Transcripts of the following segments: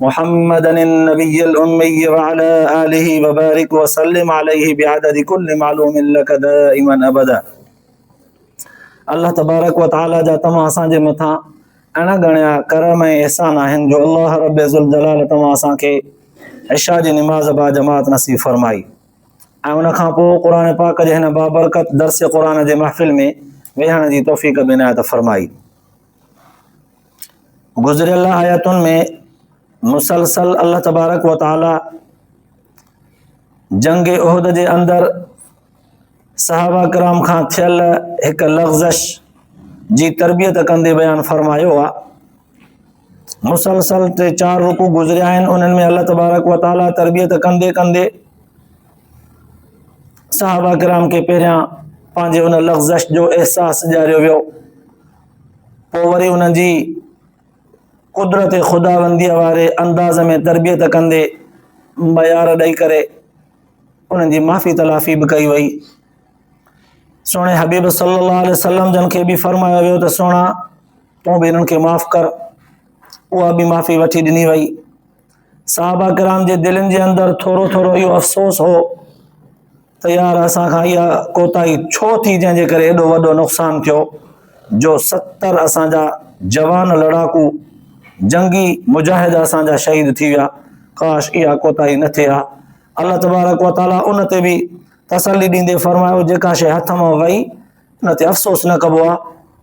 محمد النبي الامي وعلي آله وبارڪ وسلم عليه بعدد كل معلوم لك دائما ابدا الله تبارڪ وتعالي جا تمام اسان جي مٿان اڻ ڳڻيا ڪرم ۽ احسان آهن جو الله رب ذوالجلال تمام اسان کي عشاء جي نماز با جماعت نصيب فرمائي ۽ ان کان پوء قرآن پاڪ جي هن بابرڪت درس قرآن جي محفل ۾ ويهڻ جي توفيق بنايت فرمائي گذريل آيتن ۾ مسلسل الله تبارڪ و تعالي جنگ عہد جي اندر صحابه ڪرام کان ٿيل هڪ لغزش جي تربيت ڪندي بيان فرمايو آ مسلسل ٽي چار رڪو گذريا آهن انهن ۾ الله تبارڪ و تعالي تربيت ڪندي ڪندي صحابه ڪرام کي پهريان پنهنجي ان لغزش جو احساس ڏياريو ويو پوء وري انهن جي قدرت خداونديء واري انداز ۾ تربيت ڪندي معيار ڏئي ڪري انهن جي معافي تلافي به ڪئي وئي سوڻي حبيب صلي الله عليه وسلم جن کي به فرمايو ويو ته سوڻا تون به انهن کي معاف ڪر اها به معافي وٺي ڏني وئي صحابه ڪرام جي دلين جي اندر ٿورو ٿورو اهو افسوس هو ته يار اسان کان اها ڪوتاهي ڇو ٿي جنهن جي ڪري ايڏو وڏو نقصان ٿيو جو ستر اسان جا جوان لڙاڪو جنگي مجاهد اسان جا شهيد ٿي ويا ڪاش اها ڪوتاهي نه ٿئي ها الله تبارڪ و تعالي ان تي به تسلي ڏيندي فرمايو جيڪا شيء هٿ مان وئي ان تي افسوس نه ڪبو آ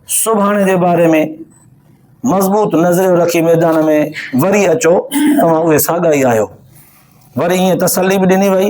سڀاڻي جي باري ۾ مضبوط نظريو رکي ميدان ۾ وري اچو توهان اهي ساڳا ئي آهيو وري ائين تسلي به ڏني وئي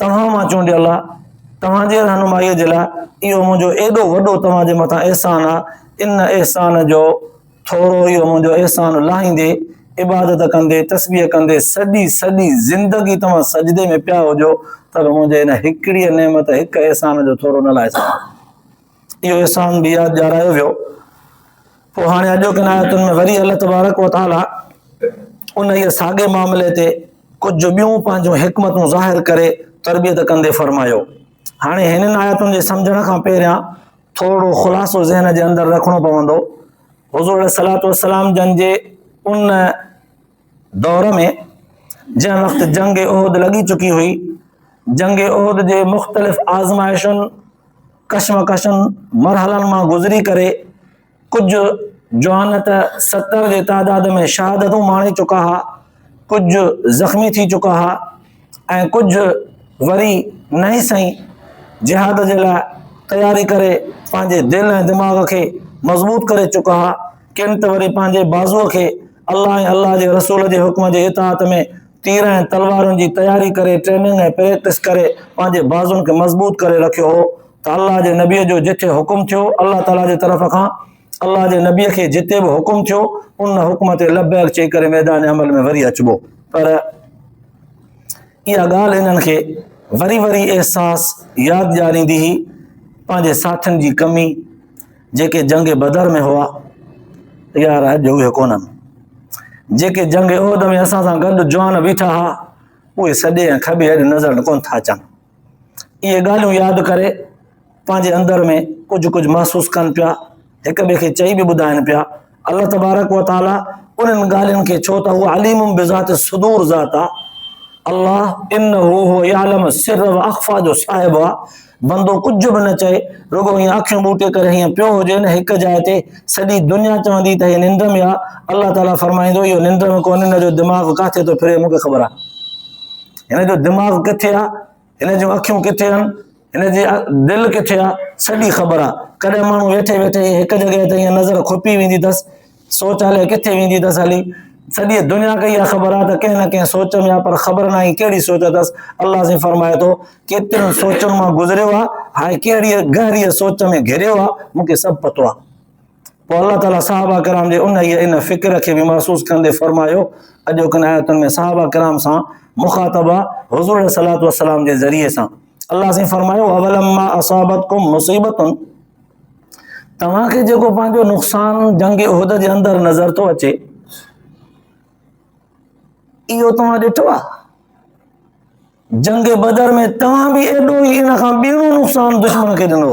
توهان مان چونڊيل آ، توهان جي رهنمائيء جي لاء اهو منهنجو ايڏو وڏو توهان جي مٿان احسان آ، ان احسان جو ٿورو اهو منهنجو احسان لاهيندي، عبادت ڪندي، تسبيح ڪندي، سڄي سڄي زندگي توهان سجدي ۾ پيا هجو ته به منهنجي ان هڪڙيء نعمت، هڪ احسان جو ٿورو نه لاهي سگهندو. اهو احسان به ياد ڏيارايو ويو پوء هاڻي اڄوڪين آيتن ۾ وري الله تبارڪ و تعاليٰ انهيء ساڳئي معاملي تي ڪجهه ٻيون پنهنجون حڪمتون ظاهر ڪري تربيت ڪندي فرمايو هاڻي هنن آيتن جي سمجھڻ کان پهريان ٿورڙو خلاصو ذهن جي اندر رکڻو پوندو حضور صلات والسلام جن جي ان دور ۾ جنهن وقت جنگ احد لڳي چڪي هئي، جنگ احد جي مختلف آزمائشن، ڪشمڪشن، مرحلن مان گذري ڪري ڪجهه جوان ته ستر جي تعداد ۾ شهادتون ماڻي چڪا ها، ڪجهه زخمي ٿي چڪا ها. ۽ ڪجهه وري نئين سئين جهاد جي لاء تياري ڪري پنهنجي دل ۽ دماغ کي مضبوط ڪري چڪا ها ڪن ته وري پنهنجي بازوء کي الله ۽ الله جي رسول جي حڪم جي اطاعت ۾ تير ۽ تلوارن جي تياري ڪري ٽريننگ ۽ پريڪٽس ڪري پنهنجي بازون کي مضبوط ڪري رکيو هو ته الله جي نبي جو جتي حڪم ٿيو الله تعالي جي طرف کان الله جي نبي کي جتي به حڪم ٿيو ان حڪم تي لبيڪ چئي ڪري ميدان عمل ۾ وري اچبو پر اها ڳالهه انهن کي وري وري احساس ياد ڏياريندي هئي پنهنجي ساٿين جي ڪمي جيڪي جنگ بدر ۾ هئا يار اڄ اهي ڪونن جيڪي جنگ عہد ۾ اسان سان گڏ جوان بيٺا هئا اهي سڏي ۽ کٻي اڄ نظر ڪون ٿا اچن اهي ڳالهيون ياد ڪري پنهنجي اندر ۾ ڪجهه ڪجهه محسوس ڪن پيا هڪ ٻئي کي چئي به ٻڌائن پيا الله تبارڪ و تعاليٰ انهن ڳالهين کي ڇو ته هو عليم بذات صدور ذات آهي الله ان هو يعلم سر و اخفا جو صاحب آ بندو ڪجھ به نه چئي رڳو هي اکيون ٻوٽي ڪري هي پيو هجي نه هڪ جاء تي سڄي دنيا چوندي ته هي ننڊ ۾ آ الله تعاليٰ فرمائيندو اهو ننڊ ۾ ڪون هن جو دماغ ڪاٿي ٿو ڦري مونکي خبر آ هن جو دماغ ڪٿي آ هن جون اکيون ڪٿي آن هن جي دل ڪٿي آ سڄي خبر آ ڪڏهن ماڻهو ويٺي ويٺي هڪ جڳهه تي نظر کپي ويندي اٿس سوچ هلي ڪٿي ويندي اٿس هلي سڄي دنيا کي اها خبر آ ته ڪنهن نه ڪنهن سوچ ۾ آ پر خبر نه آهي ڪهڙي سوچ اٿس الله سين فرمائي ٿو ڪيتريون سوچن مان گذريو آ هاڻي ڪهڙي گهري سوچ ۾ گهريو آ مونکي سڀ پتو آ پوء الله تعالي صحابه ڪرام جي انهيء ان فڪر کي به محسوس ڪندي فرمايو، اڄوڪن آيتن ۾ صحابه ڪرام سان مخاطبه حضور عليه الصلوۃ والسلام جي ذريعي سان الله سائين فرمايو اولما اصابتكم مصيبتن توهان کي جيڪو پنهنجو نقصان جنگ عہد جي اندر نظر ٿو اچي اهو توهان ڏٺو جنگ بدر ۾ توهان به ايڏو ئي ان کان ٻيڻو نقصان دشمن کي ڏنو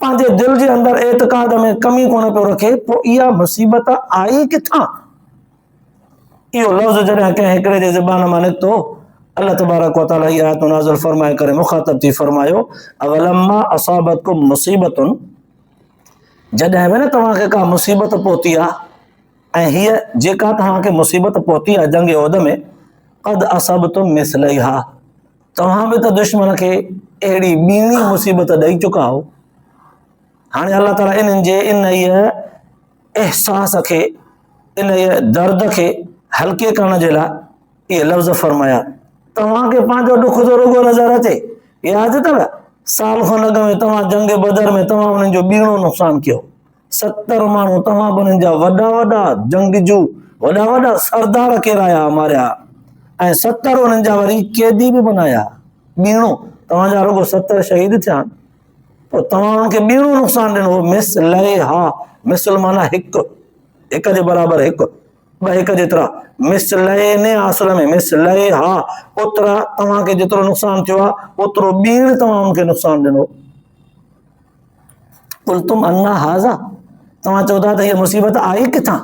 پنهنجي دل جي اندر اعتقاد ۾ ڪمي ڪونه پيو رکي پوء اها مصيبت آئي ڪٿان؟ اهو لفظ جڏهن ڪنهن هڪڙي جي زبان مان نڪتو الله تبارڪ و تعالٰي هي آيتون نازل فرمائي ڪري مخاطب ٿي فرمايو اولما اصابتكم مصيبتن جڏهن به نه توهان کي ڪا مصيبت پهتي آ ۽ هي جيڪا توهان کي مصيبت پهتي آ جنگ عهد ۾ قد اصابتم مثليها توهان به ته دشمن کي اهڙي ٻيڻي مصيبت ڏئي چڪا آهو. هاڻي الله تعاليٰ انهن جي انهيء احساس کي انهيء درد کي هلڪي ڪرڻ جي لاء اهي لفظ فرمايا توهان کي پنهنجو ڏک ٿو رڳو نظر اچي ياد اٿو سال کن اڳ ۾ توهان جنگ بدر ۾ توهان انهن جو ٻيڻو نقصان ڪيو ستر ماڻهو توهان به انهن جا وڏا وڏا جنگجو وڏا وڏا سردار ڪيرايا ماريا ۽ ستر انهن جا وري قيدي به بنايا ٻيڻو توهان جا رڳو ستر شهيد ٿيا آهن پوء توهان انهن کي ٻيڻو نقصان ڏنو مس لئي ها مثل مانا هڪ هڪ جي برابر هڪ ٻه هڪ جيترا مس لئي نه اصل ۾ مس لئي ها اوترا توهان کي جيترو نقصان ٿيو آهي اوترو ٻيڻ توهان انهن کي نقصان ڏنو قلتم انا هذا توهان چئو ٿا ته هيء مصيبت آئي ڪٿان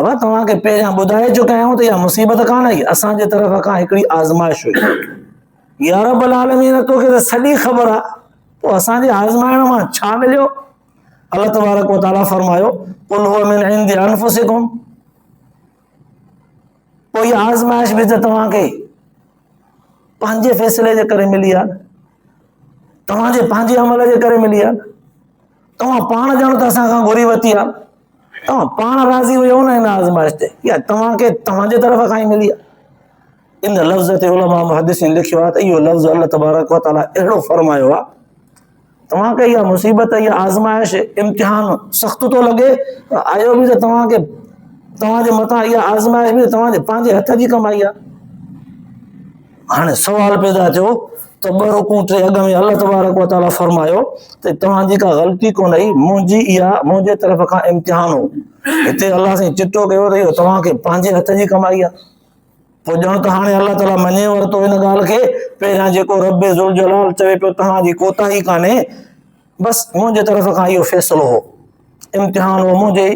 ابا توهان کي پهريان ٻڌائي چڪايون ته اها مصيبت ڪانه آئي اسان جي طرف کان هڪڙي آزمائش هئي يا رب العالمين تو کي ته سڄي خبر آ تو اسان جي آزمائڻ مان ڇا مليو الله تبارڪ و تعاليٰ فرمايو قل هو من عند انفسكم پوء اها آزمائش به ته توهان کي پنهنجي فيصلي جي ڪري ملي آهي توهان جي پنهنجي عمل جي ڪري ملي آهي توهان پاڻ ڄاڻو ته اسان کان گهري وتي آهي توهان پاڻ راضي هجو نه هن آزمائش تي يا توهان کي توهان جي طرف کان ئي ملي آهي ان لفظ تي علماء محدثين لکيو آهي ته اهو لفظ الله تبارڪ وتعالي اهڙو فرمايو آهي توهان کي اها مصيبت، اها آزمائش، امتحان سخت ٿو لڳي، آيو به ته توهان کي توهان جي مٿان اها آزمائش به توهان جي پنهنجي هٿ جي ڪمائي آهي. هاڻي سوال پيدا ٿيو ته ٻه رڪون ٽي اڳ ۾ الله تبارڪ وتعالي فرمايو ته توهان جي ڪا غلطي ڪونه هئي منهنجي اها منهنجي طرف کان امتحان هو هتي الله سائين چٽو ڪيو ته اهو توهان کي پنهنجي هٿ جي ڪمائي آهي پوء ڄڻ ته هاڻي الله تعاليٰ مڃي ورتو ان ڳالهه کي، پهريان جيڪو ربّ ذوالجلال چوي پيو توهان جي ڪوتاهي ڪانهي، بس منهنجي طرف کان اهو فيصلو هو، امتحان هو منهنجي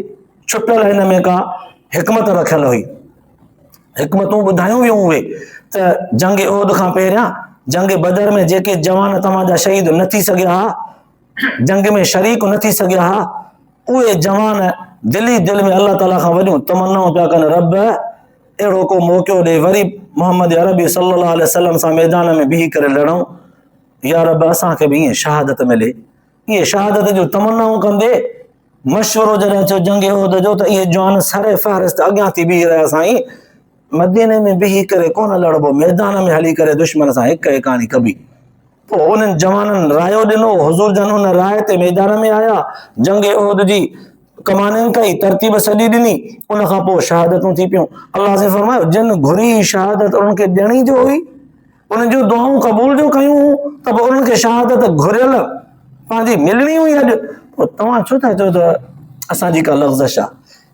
ڇپيل هن ۾ ڪا حڪمت رکيل هئي. حڪمتون ٻڌايون ويون اهي ته جنگ عهد کان پهريان جنگ بدر ۾ جيڪي جوان توهان جا شهيد نه ٿي سگهيا ها، جنگ ۾ شريڪ نه ٿي سگهيا ها، اهي جوان دل ئي دل ۾ الله تعالي کان وڏيون تمنائون پيا ڪن رب اهڙو ڪو موقعو ڏي وري محمد عربي صلي الله عليه وسلم سان ميدان ۾ بيهي ڪري لڙون يا رب اسان کي به ائين شهادت ملي ائين شهادت جون تمنائون ڪندي مشورو جڏهن اچيو جنگ عهد جو ته اهي جوان سر فهرست اڳيان ٿي بيهي رهيا سائين مديني ۾ بيهي ڪري ڪونه لڙبو، ميدان ۾ هلي ڪري دشمن سان هڪ هڪاڻي ڪبي. پوء انهن جوانن رايو ڏنو، حضور جن ان راء تي ميدان ۾ آيا، جنگ احد جي ڪمانين ڪئي، ترتيب سڄي ڏني، ان کان پوء شهادتون ٿي پيون. الله سائين فرمايو، جن گهري شهادت انهن کي ڏيڻي جو هئي، انهن جون دعائون قبول جو ڪيون هون ته به انهن کي شهادت گهريل پنهنجي ملڻي هئي اڄ، پوء توهان ڇو ٿا چئو ته اسان جي ڪا لغزش آهي؟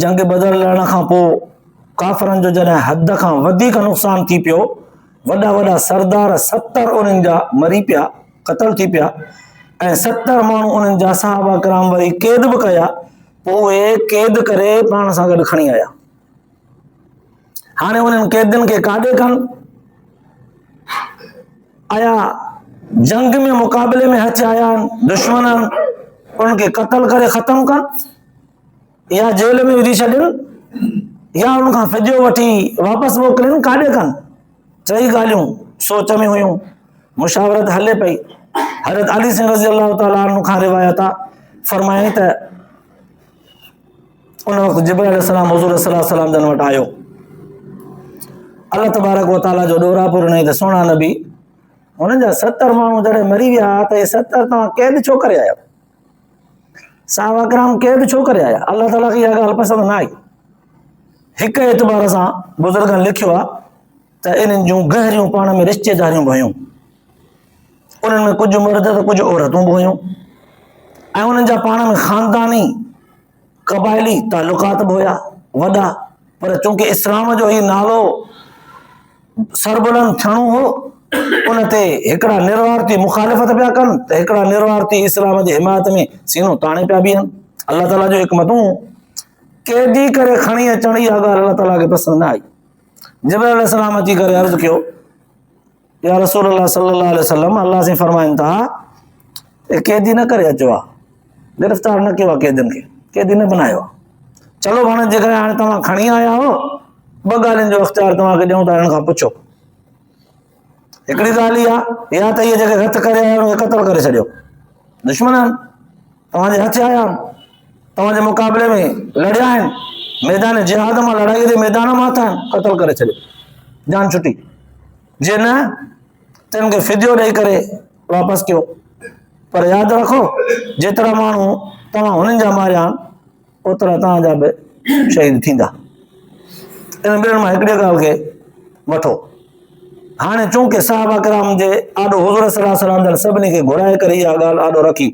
جنگ بدر لڙڻ کان پوء ڪافرن جو جڏهن حد کان وڌيڪ نقصان ٿي پيو، وڏا وڏا سردار ستر انهن جا مري پيا، قتل ٿي پيا ۽ ستر ماڻهو انهن جا صحابه ڪرام وري قيد به ڪيا، پوء اهي قيد ڪري پاڻ سان گڏ کڻي آيا. هاڻي انهن قيدين کي ڪاڏي ڪن آيا جنگ ۾ مقابلي ۾ هٿ آيا آهن دشمن آهن انهن کي قتل ڪري ختم ڪن يا جيل ۾ وجهي ڇڏين يا انهن کان فديو وٺي واپس موڪلين ڪاڏي ڪن ٽئي ڳالهيون سوچ ۾ هيون مشاورت هلي پئي حضرت علي سنگھ رضي الله تعاليٰ عنہ کان روايت فرمائي ته ان وقت جبرائيل عليه السلام حضور صلي الله عليه وسلم جن وٽ آيو الله تبارڪ و تعالي جو ڏورا پور ڏنائين ته سهڻا نبي هن جا 70 ماڻهو جڏهن مري ويا ته هي 70 توهان قيد ڇو ڪري آيا صحابه کرام قيد ڇو ڪري آيا الله تعالي کي اها ڳالهه پسند نه آئي هڪ اعتبار سان بزرگن لکيو آهي ته انهن جون گهريون پاڻ ۾ رشتيداريون به هيون. انهن ۾ ڪجهه مرد ته ڪجهه عورتون به هيون ۽ انهن جا پاڻ ۾ خانداني قبائلي تعلقات به هيا وڏا پر چونڪه اسلام جو هي نالو سربلند ٿيڻو هو ان تي هڪڙا نروارتي مخالفت پيا ڪن ته هڪڙا نروارتي اسلام جي حمايت ۾ سينو تاڻي پيا بيهن الله تعاليٰ جو حڪمتون ڪيڏي ڪري کڻي اچڻ اها ڳالهه الله تعاليٰ کي پسند نه آئي جبرائيل عليه السلام اچي ڪري عرض ڪيو يا رسول الله صلي الله عليه وسلم الله سين فرمائن ٿا ته قيدي نه ڪري اچو آ گرفتار نه ڪيو آ قيدين کي قيدي نه بنايو چلو ڀاڻ جي ڪري هاڻي توهان کڻي آيا آهو ٻه ڳالهين جو اختيار توهان کي ڏيون ٿا هن کان پڇو هڪڙي ڳالهه اها يا ته اهي جيڪي هٿ ڪري آيا اهي قتل ڪري ڇڏيو. دشمن آهن. توهان جي هٿ آيا آهن. توهان جي مقابلي ۾ لڙيا آهن. ميدان جهاد مان لڙائي جي ميدان مان اٿا آهن. قتل ڪري ڇڏيو. جان ڇٽي. جي نه تن کي فديو ڏئي ڪري واپس ڪيو. پر ياد رکو جيترا ماڻهو توهان هنن جا ماريا آهن اوترا توهان جا به شهيد ٿيندا. انهن ٻنهن مان هڪڙيء ڳالهه کي وٺو. هاڻي چونڪه صحابه ڪرام جي آڏو حضور صلي الله عليه وسلم جن سڀني کي گهرائي ڪري اها ڳالهه آڏو رکي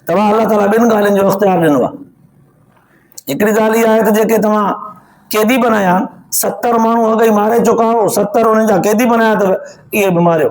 توهان الله تعاليٰ ٻن ڳالهين جو اختيار ڏنو آهي هڪڙي ڳالهه اها آهي ته جيڪي توهان قيدي بنايا آهن ستر ماڻهو اڳ ئي ماري چڪا آهو ستر انهن جا قيدي بنايا اٿو اهي به ماريو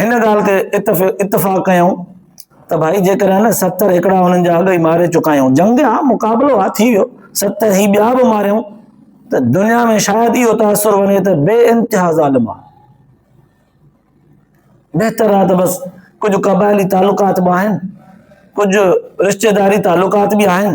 هن ڳالهه تي اتفاق ڪيائون ته ڀائي جيڪڏهن نه ستر هڪڙا هنن جا اڳ ئي ماري چڪا آهيون جنگ ها مقابلو ها ٿي ويو ستر هي ٻيا به ماريون ته دنيا ۾ شايد اهو تاثر وڃي ته بي انتها ظالم آهي بهتر آهي ته بس ڪجهه قبائلي تعلقات به آهن ڪجهه رشتيداري تعلقات به آهن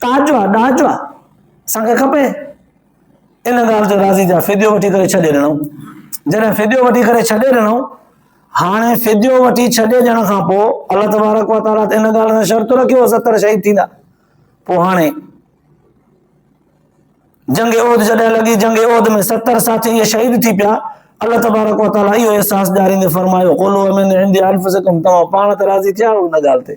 تاجو آ، ڏاجو آ، اسان کي کپي. ان ڳالهه تي راضي ٿيا، فديو وٺي ڪري ڇڏي ڏنائون. جڏهن فديو وٺي ڪري ڇڏي ڏنائون، هاڻي فديو وٺي ڇڏي ڏيڻ کان پوء الله تبارڪ و تعاليٰ ان ڳالهه سان شرط رکيو ستر شهيد ٿيندا. پوء هاڻي جنگ عهد جڏهن لڳي جنگ عهد ۾ ستر ساٿي اهي شهيد ٿي پيا الله تبارڪ وتعاليٰ اهو احساس ڏياريندي فرمايو قولوا من عند انفسکم توهان پاڻ ته راضي ٿيا آهيو ان ڳالهه تي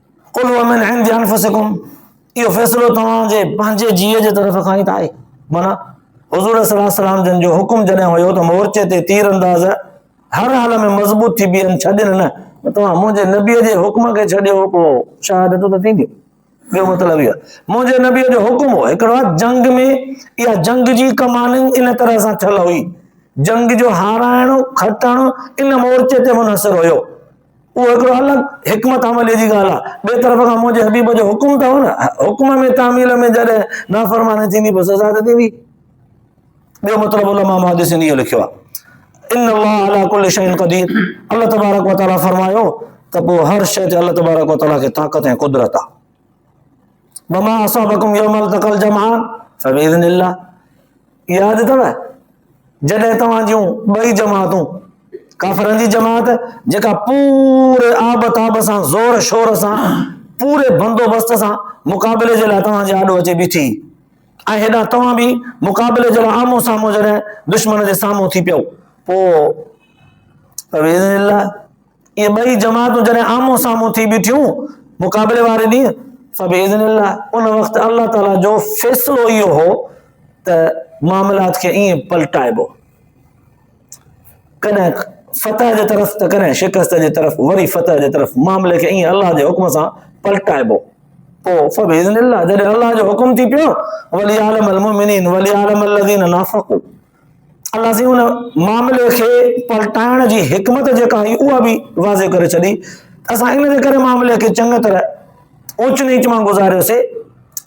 قل هو من عند انفسكم اهو فيصلو توهان جي پنهنجي جيء جي طرف کان ئي ته آهي مانا حضور صلي الله عليه وسلم جن جو حڪم جڏهن هيو ته مورچي تي تير انداز هر حال ۾ مضبوط ٿي بيهن ڇڏين نه توهان منهنجي نبي جي حڪم کي ڇڏيو پو شهادت ته ٿيندي ٻيو مطلب اهو منهنجي نبي جو حڪم هو هڪڙو جنگ ۾ اها جنگ جي ڪمان ان طرح سان ٺل هئي جنگ جو هارائڻ کٽڻ ان مورچي تي منحصر هيو اهو هڪڙو الڳ حڪمت عمليء جي ڳالهه آهي. ٻئي طرف کان منهنجي حبيب جو حڪم ته هو نه، حڪم ۾ تعميل ۾ جڏهن نافرماني ٿيندي پوء سزا ته ٿيندي. ٻيو مطلب علماء محدثين اهو لکيو آهي. ان الله على كل شيء قدير الله تبارڪ وتعاليٰ فرمايو ته پوء هر شيء تي الله تبارڪ وتعاليٰ کي طاقت ۽ قدرت آهي. وما اصابكم يوم التقى الجمعان فباذن الله ياد اٿو جڏهن توهان جون ٻئي جماعتون ڪافرن جي جماعت جيڪا پوري آب تاب سان زور شور سان پوري بندوبست سان مقابلي جي لاء توهان جي آڏو اچي بيٺي ۽ هيڏا توهان به مقابلي جي لاء آمو سامو جڏهن دشمن جي سامهون ٿي پيو پوء فباذن الله اهي ٻئي جماعتون جڏهن آمهون سامهون ٿي بيٺيون مقابلي واري ڏينهن فباذن الله ان وقت الله تعالي جو فيصلو اهو هو ته معاملات کي ائين پلٽائبو ڪڏهن فتح جي طرف ته ڪڏهن شڪست جي طرف وري فتح جي طرف معاملي کي ائين الله جي حڪم سان پلٽائبو پوء فباذن الله جڏهن الله جو حڪم ٿي پيو ولي عالم المؤمنين ولي عالم الذين نافقوا الله سائين ان معاملي کي پلٽائڻ جي حڪمت جيڪا هئي اها به واضح ڪري ڇڏي اسان ان جي ڪري معاملي کي چڱي طرح اوچ نيچ مان گذاريوسي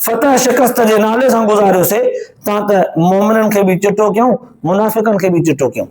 فتح شڪست جي نالي سان گذاريوسي تان ته مومنن کي به چٽو ڪيون منافقن کي به چٽو ڪيون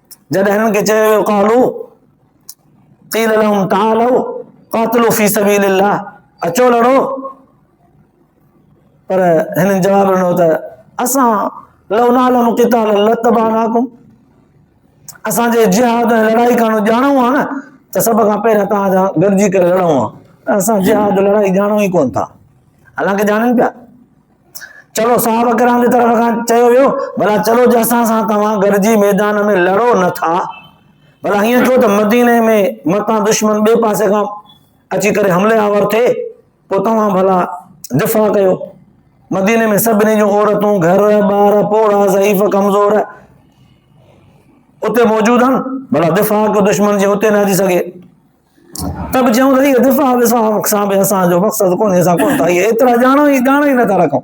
جڏهن هنن کي چيو ويو قالو قيل لهم تعالوا قاتلوا في سبيل الله اچو لڙو پر هنن جواب ڏنو ته اسان لو نعلم قتال لتبعناكم اسان جي جهاد ۽ لڙائي ڪانو ڄاڻو آ نه ته سڀ کان پهريان توهان سان گڏجي ڪري لڙون آ اسان جهاد لڙائي ڄاڻو ئي ڪون ٿا حالانڪه ڄاڻن پيا چلو صحابه ڪرام جي طرف کان چيو ويو ڀلا چلو جي اسان سان توهان گڏجي ميدان ۾ لڙو نه ٿا ڀلا هيئن ٿيو ته مديني ۾ متان دشمن ٻئي پاسي کان اچي ڪري حملي آور ٿئي پوء توهان ڀلا دفاع ڪيو مديني ۾ سڀني جون عورتون گهر ٻار پوڙا ضعيف ڪمزور اتي موجود آهن ڀلا دفاع ڪيو دشمن جي اتي نه اچي سگهي ته به چيون ته اهو دفاع وفاق سان به اسان جو مقصد ڪونهي، اسان ڪونه ٿا اهي ايترا ڄاڻو ئي ڄاڻو ئي نٿا رکون،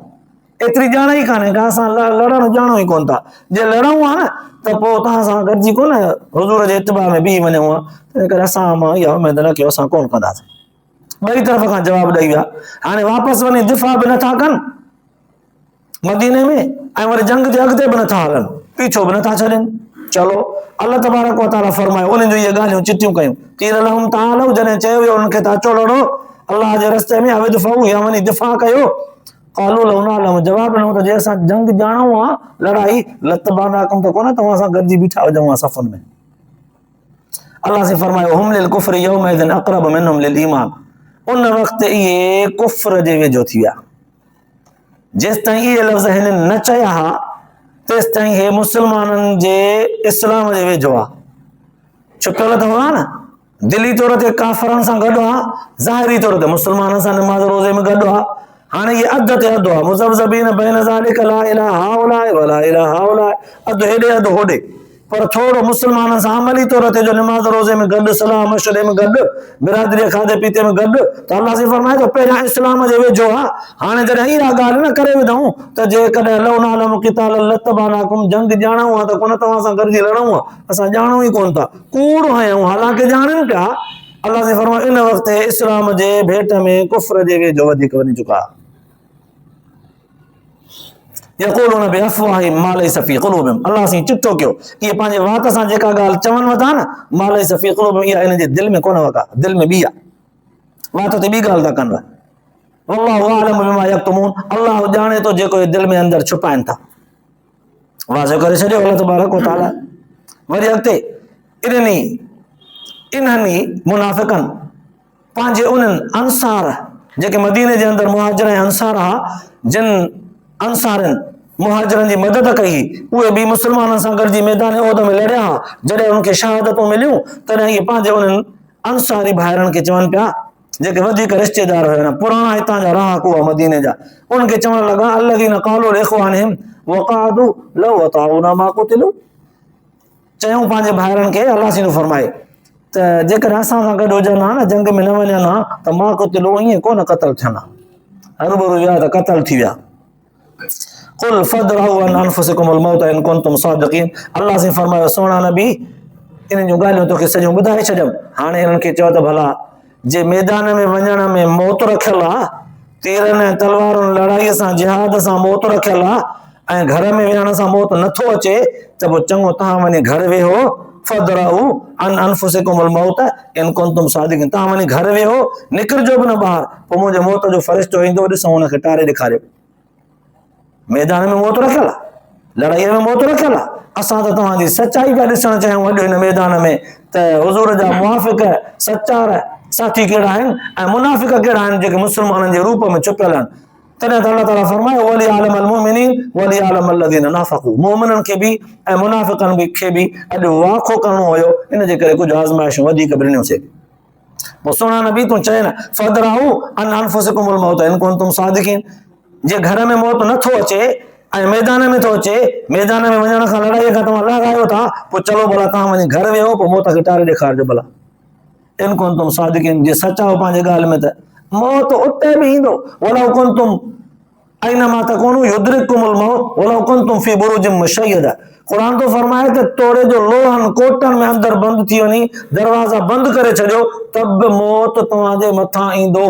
ايتري ڄاڻ ئي ڪانهي ڪا اسان لڙڻ ڄاڻو ئي ڪونه ٿا، جي لڙون ها نه ته پوء توهان سان گڏجي ڪونه حضور جي اتباع ۾ بيهي وڃون ها، تنهن ڪري اسان مان اها اميد نه ڪيو اسان ڪونه ڪنداسين. ٻئي طرف کان جواب ڏئي ويا، هاڻي واپس وڃي دفاع به نٿا ڪن، مديني ۾ ۽ وري جنگ جي اڳتي به نٿا هلن پيڇو به نٿا ڇڏين چلو الله تبارڪ وتعالى فرمايو انهن جو اهي ڳالهيون چتيون ڪيون قيل لهم تعالوا جڏهن چيو ويو انهن کي ته اچو لڙو الله جي رستي ۾ اويد فهو يا وڃي دفاع ڪيو قالو لو نعلم جواب ڏنو ته جي اسان جنگ ڄاڻو آ لڙائي لتبانا ڪم ته ڪونه توهان سان گڏجي بيٺا هجون صفن ۾ الله سي فرمايو هم للكفر يوم اذن اقرب منهم للايمان ان وقت اهي ڪفر جي ويجهو ٿي ويا جيستائين اهي لفظ هنن نه چيا ها تيستائين هي مسلمانن جي اسلام جي ويجهو آ چڪل ته هئا نه دلي طور تي ڪافرن سان گڏ آ ظاهري طور تي مسلمانن سان نماز روزي ۾ گڏ آ هاڻي هي اڌ تي اڌ آ مذبذبين بين ذلك لا اله هؤلاء ولا اله هؤلاء اڌ هيڏي اڌ هوڏي پر ٿورڙو مسلمانن سان عملي طور تي جو نماز روزي ۾ گڏ، صلاح مشوري ۾ گڏ، برادري جي کاڌي پيتي ۾ گڏ ته الله سائين فرمائي ٿو پهريان اسلام جي ويجهو آ، هاڻي جڏهن اها ڳالهه نه ڪري وڌئون ته جيڪڏهن لو نعلم قتالا لاتبعناڪم جنگ ڄاڻائون ها ته ڪونه توهان سان گڏجي لڙئون ها، اسان ڄاڻون ئي ڪونه ٿا، ڪوڙ هنيئون حالانڪه ڄاڻين پيا، الله سائين فرمائي ان وقت هي اسلام جي ڀيٽ ۾ ڪفر جي ويجهو وڌيڪ وڃي چڪا. يقولون بافواههم ما ليس في قلوبهم الله سين چپ ٿو ڪيو اي پنهنجي وات سان جيڪا ڳالهه چون وتا نه ما ليس في قلوبهم اي انهن جي دل ۾ ڪونه وتا دل ۾ بي آ وات تي بي ڳالهه ٿا ڪن والله اعلم بما يكتمون الله ڄاڻي ٿو جيڪو دل ۾ اندر ڇپائن ٿا واضح ڪري ڇڏيو الله تبارڪ وتعالى وري اڳتي انهن انهن منافقن پنهنجي انهن انصار جيڪي مديني جي اندر مهاجر ۽ انصار ها جن انصارن مهاجرن جي مدد ڪئي هئي اهي به مسلمانن سان گڏجي ميدان عهد ۾ لڙيا ها جڏهن انهن کي شهادتون مليون تڏهن اهي پنهنجي انهن انصاري ڀائرن کي چون پيا جيڪي وڌيڪ رشتيدار هيا پراڻا هتان جا رهاڪو هئا مديني جا انهن کي چوڻ لڳا الذين قالوا لاخوانهم وقعدوا لو اطاعونا ما قتلوا چيائون پنهنجي ڀائرن کي الله سينو فرمائي ته جيڪڏهن اسان سان گڏ هجن ها نه جنگ ۾ نه وڃن ها ته مان قتلو ائين ڪو نه قتل ٿين ها هربرو ويا ته قتل ٿي ويا قل فدرهو ان انفسكم الموت ان كنتم صادقين الله سي فرمايو سونا نبي انهن جون ڳالهيون توکي سڄيون ٻڌائي ڇڏيم هاڻي انهن کي چئو ته ڀلا جي ميدان ۾ وڃڻ ۾ موت رکيل آ، تيرن ۽ تلوارن لڙائي سان جهاد سان موت رکيل آ ۽ گهر ۾ ويهڻ سان موت نه ٿو اچي ته پوء چڱو توهان وڃي گهر ويهو فدرعو ان انفسڪم الموت ان ڪنتم صادقين توهان وڃي گهر ويهو نڪرجو به نه ٻاهر پوء منهنجو موت جو فرشتو ايندو ڏسو ان کي ٽاري ڏيکاريو ميدان ۾ موت رکيل آ لڙائي ۾ موت رکيل آ اسان ته توهان جي سچائي پيا ڏسڻ چاهيون اڄ هن ميدان ۾ ته حضور جا موافق سچار ساٿي ڪهڙا آهن ۽ منافق ڪهڙا آهن جيڪي مسلمانن جي روپ ۾ ڇپيل آهن تڏهن ته الله تعاليٰ فرمايو ولي عالم المؤمنين ولي عالم الذين نافقوا مؤمنن کي به ۽ منافقن به کي به اڄ واکو ڪرڻو هيو ان جي ڪري ڪجهه آزمائشون وڌيڪ به ڏنيوسي پوء سهڻا نبي تون چين فدرعو ان انفسکم الموت ان ڪون تم صادقين جي گهر ۾ موت نه ٿو اچي ۽ ميدان ۾ ٿو اچي ميدان ۾ وڃڻ کان لڙائي کان توهان لاء آيو ٿا پوء چلو ڀلا توهان وڃي گهر ويهو پوء موت کي ٽاري ڏيکارجو ڀلا ان ڪون تم صادقين جي سچا هو پنهنجي ڳالهه ۾ ته موت اتي به ايندو ولا ڪون تم اينما تڪونو يدرڪڪم الموت ولو ڪنتم في بروج مشيده قرآن ٿو فرمائي ته توڙي جو لوهن ڪوٽن ۾ اندر بند ٿي وڃي دروازا بند ڪري ڇڏيو ته به موت توهان جي مٿان ايندو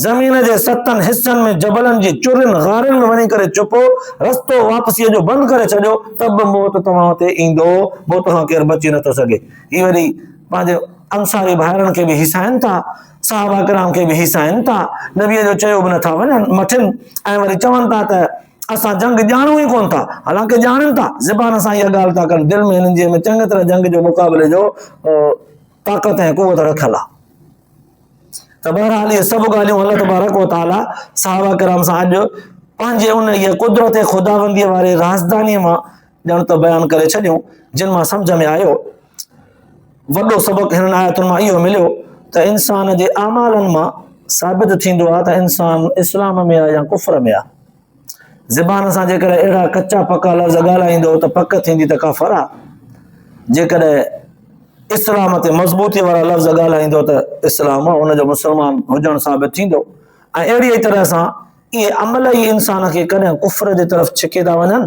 زمين جي ستن حصن ۾ جبلن جي چرين غارن ۾ وڃي ڪري چپو رستو واپسيء جو بند ڪري ڇڏيو ته به موت توهان تي ايندو موت کان ڪير بچي نٿو سگهي هي وري پنهنجي انصاري ڀائرن کي به هيسائن ٿا صحابه ڪرام کي به هيسائين ٿا، نبيء جو چيو به نه ٿا مٺين ۽ وري چون ٿا ته اسان جنگ ڄاڻون ئي ڪونه ٿا، حالانڪه ڄاڻن ٿا، زبان سان اها ڳالهه ٿا ڪن، دل ۾ هنن جي ۾ چڱي طرح جنگ جي مقابلي جو طاقت ۽ قوت رکيل آهي. ته بهرحال اهي سڀ ڳالهيون الله تبارڪ و تعاليٰ صحابه ڪرام سان اڄ پنهنجي ان قدرت خداوندي واري رازداني مان ڄڻ ته بيان ڪري ڇڏيون، جن مان سمجهه ۾ آيو. وڏو سبق هنن آيتن مان اهو مليو ته انسان جي اعمالن مان ثابت ٿيندو آهي ته انسان اسلام ۾ آهي يا ڪفر ۾ آهي. زبان سان جيڪڏهن اهڙا ڪچا پڪا لفظ ڳالهائيندو ته پڪ ٿيندي ته ڪافر آهي. جيڪڏهن اسلام تي مضبوطي وارا لفظ ڳالهائيندو ته اسلام ان جو مسلمان هجڻ ثابت ٿيندو ۽ اهڙي ئي طرح سان اهي عمل ئي انسان کي ڪڏهن ڪفر جي طرف ڇڪي ٿا وڃن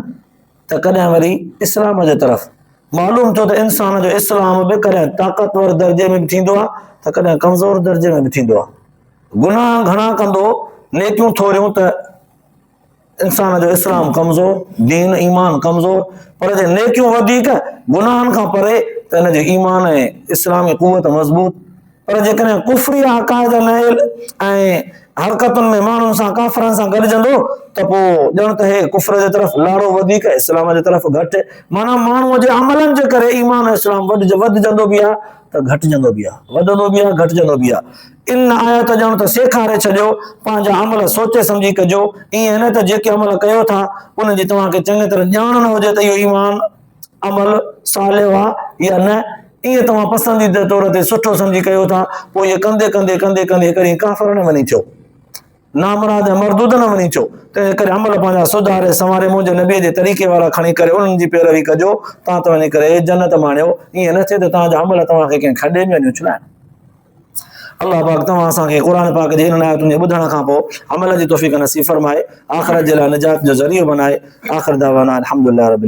ته ڪڏهن وري اسلام جي طرف. معلوم ٿيو ته انسان جو اسلام به ڪڏهن طاقتور درجي ۾ به ٿيندو آهي ته ڪڏهن ڪمزور درجي ۾ به ٿيندو آهي. گناهه گهڻا ڪندو، نيڪيون ٿوريون ته انسان جو اسلام ڪمزور، دين ايمان ڪمزور، پر جي نيڪيون وڌيڪ، گناهن کان پري ته ان جو ايمان ۽ اسلامي قوت مضبوط. پر جيڪڏهن ڪفري عقائد نائل ۽ حرڪتن ۾ ماڻهن سان ڪافرن سان گڏجندو ته پوء ڄڻ ته هي ڪفر جي طرف لاڙو وڌيڪ ۽ اسلام جي طرف گهٽ معنيٰ ماڻهوء جي عملن جي ڪري ايمان ۽ اسلام وڌجندو به آهي ته گهٽجندو به آهي وڌندو به آهي گهٽجندو به آهي ان آيت ڄڻ ته سيکاري ڇڏيو پنهنجا عمل سوچي سمجهي ڪجو ائين نه ته جيڪي عمل ڪيو ٿا ان جي توهان کي چڱي طرح ڄاڻ نه هجي ته اهو ايمان عمل صالح آ يا نه، ايئن توهان پسنديده طور تي سٺو سمجهي ڪيو ٿا، پوء ايئن ڪندي ڪندي ڪندي ڪندي هڪڙي ڏينهن ڪافر نه وڃي ٿيو. نامراد ۽ مردود نه وڃي ٿيو. تنهن ڪري عمل پنهنجا سڌاري سنواري منهنجي نبيء جي طريقي وارا کڻي ڪري انهن جي پيروي ڪجو، تان ته وڃي ڪري جنت ماڻيو، ايئن نه ٿئي ته توهان جا عمل توهان کي ڪنهن کڏي ۾ وڃي اڇلائن. الله پاڪ توهان اسان کي قرآن پاڪ جي انهن آيتن جي ٻڌڻ کان پوء عمل جي توفيق نصيب فرمائي، آخرت جي لاء نجات جو ذريعو بنائي، آخر دعوانا الحمدلله رب العالمين.